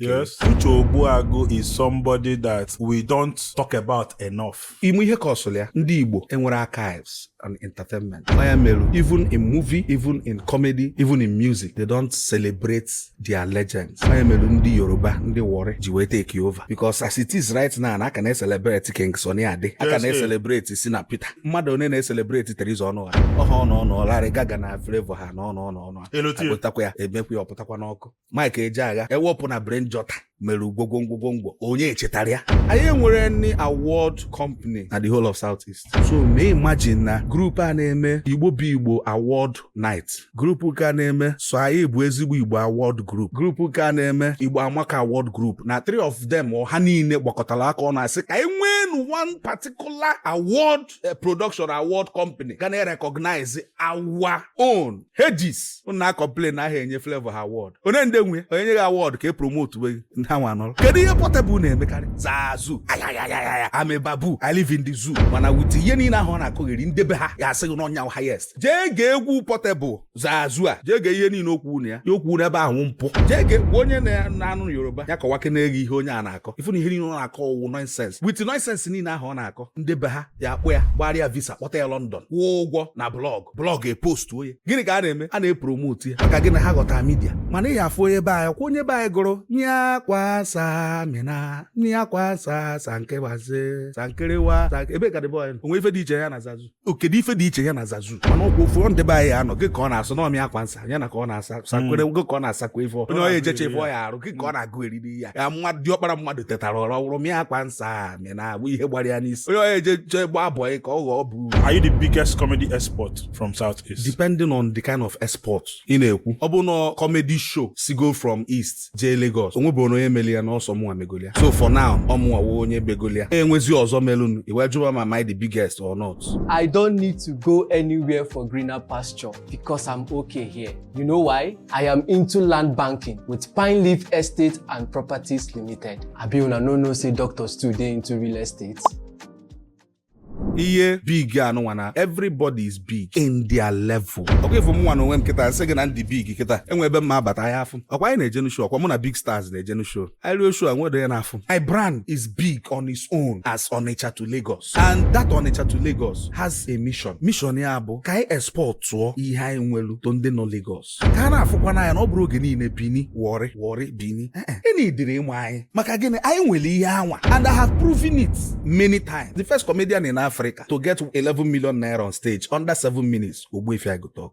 Yes. Uche Ogbuagu is somebody that we don't talk about enough. Ị ma ihe kọsụlụ ya ndị Igbo enwerọ archives and entertainment. Ọ ya melu, even in movie, even in comedy, even in music, they don't celebrate their legends. Ọ ya melu ndị Yoruba, ndị Warri ji wee take over because as it is right now, a ka na-eselebrate King Sunny Ade, a ka na-eselebrate Shina Peters. Mmadụ onye na-eselebrate Theresa Onuorah. Ọha ọnụ ọnụ ọ Larry Gaaga na Flavour ha na ọnụ ọnụ ọnụ. Elotie. Agụtakwa ya, emekwa ya ọpụtakwa n'ọkụ. Mike Ejeagha ewepụ na Brain Jotter mere ugwogwo ngwogwongwo onye echetara ya anyị enwerọ any award company na the whole of south east so mee imagine na grupu a na-eme igbo bụ igbo award night grupu nke a na-eme so anyị bụ ezigbo igbo award group grupu nke a na-eme igbo amaka award group na three of them ha niile gbakọtara aka ọnụ asị ka anyị nwee one particular award eh, production award company ga na-recognize our own legends unu na-acomplain na ahụ enye Flavour ha award onye ndị nwe onye nyeghị award ka e promote we ndị ha nwa nọrọ kedu ihe Portable na-emekarị zaa zoo ayayayaya I'm a baboon I live in the zoo mana wit ihe niile ahụ ọ na-akọgheri ndị be ha ya-asị gị na ọ ya highest jee gee egwu Portable zazu a jee gee ihe niile okwu na ya ya okwu n'ebe ahụ mpụ jee gee gwa onye na-anụ yoruba ya kọwakene gị ihe onye a na-akọ ị fụ na ihe niile ọ na-akọ ọ wụ nọnsens wit nọnsens niile ahụ ọ na-akọ ndị be ha ya-akpọ ya gbara ya visa kpọta ya lọndọn kwụọ ụgwọ na blọgụ blọgụ epostuo ya gịnị ka a na-eme a na-epromotu ya maka gịnị ha ghọta midia mana ị ya-afụ onye be anyị kwa onye be anyị gụrụ nyakwasa mina nyakwasa sankewaze sankerewa ebe ka dịbe onye o nwe ife dị iche ya na zazu ọ kedu ife dị iche ya na zazu mana ọ kwa ofu ndị be anyị anọ gị ka ọ na-asụ n'ọmị akwa nsa ya na ka ọ na-asa sakwere hmm. gị ka ọ na-asakwa ife onye onye ejecha ife ọ ya arụ gị ka ọ na-agụ eriri ya ya nwa dị ọkpara mmadụ tetara ụra wụrụ mịa akwa nsa mị na agba ihe gbara ya n'isi onye onye ejecha egba abụọ ka ọ ghọọ bụ Are you the biggest comedy export from South East? Depending on the kind of export ị na-ekwu ọ bụ na comedy show sigo from East jee Lagos onwebụrụ onye meli ya n'ọsọ mụnwa megolia so for now ọmụnwa wee onye begolia enwezi ọzọ melụnụ iwe jụwa ma my the biggest or not I don't need to go anywhere for greener pasture because I'm okay here. You know why? I am into land banking with Pine Leaf Estate and Properties Limited. Abi una no know say doctors too dey into real estate? ihe big anụnwa na everybody is big in their level ọkwa ị fụ mụnwa na onwe m kịta m sị gị na m dị big kịta e nwe ebe m ma-abata ahị afụ ọkwa anyị na-ejenu show ọkwa mụ na big stars na-ejenu show anyị ruo show e nwe ndị a na-afụ my brand is big on its own as Onitsha to Lagos and that Onitsha to Lagos has a mission mission ya bụ ka anyị exportụọ ihe anyị nwelu to ndị nọ Lagos ka a na-afụkwanụ anyị na ọ bụrọ oge niile Bini Warri Warri Bini ịna idiri ịmụ anyị maka gịnị anyị nwere ihe anwa and I have proven it many times the first comedian in Africa to get 11 million naira on stage under 7 minutes Ogbuefi I Go Tuk